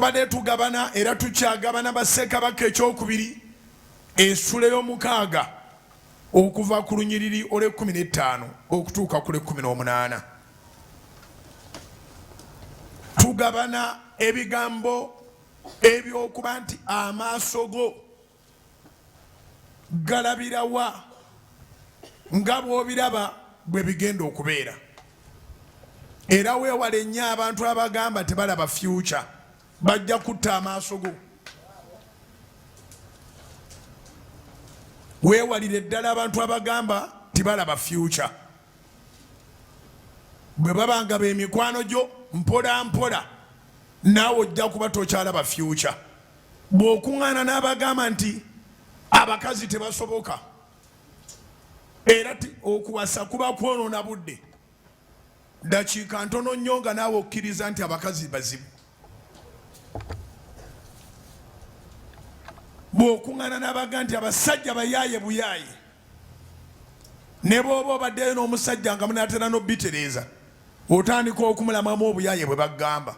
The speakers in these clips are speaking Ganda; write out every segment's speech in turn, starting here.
tubadde tugabana era tukyagabana bassekabaka ekyokubiri ensula ey'omukaaga okuva ku lunyiriri olw'ekkumi n'ettaano okutuuka ku lw'ekkumi n'omunaana tugabana ebigambo ebyokuba nti amaaso go galabirawa nga bwobiraba bwe bigenda okubeera era wewale nnyo abantu abagamba tebalaba fyuca bajja kutta amaaso go wewalire ddala abantu abagamba tibalaba fyuca bwe babanga bemikwano gyo mpola mpola naawe ojja kuba tokyalaba fyuca bw'okuŋŋaana n'abagamba nti abakazi tebasoboka era okuwasa kuba kwonoona budde dakiika ntono nnyo nga naawe okkiriza nti abakazi bazibu bw'okuŋŋaana n'abaga nti abasajja bayaaye buyaaye ne bw'oba obaddeyo n'omusajja nga munaatera n'obitereeza otandika okumulamamu obuyaye bwe bagamba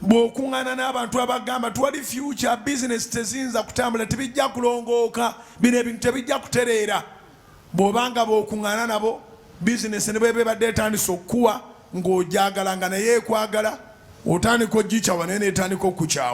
bw'okuŋŋaana n'abantu abagamba twali future business teziyinza kutambula tebijja kulongooka bino ebintu tebijja kutereera bw'obanga bw'okuŋŋaana nabo bizinesi ne bweba ebadde etandise okukuwa ng'ogyagala nga naye ekwagala otandika ogikyawa naye netandika okukyawa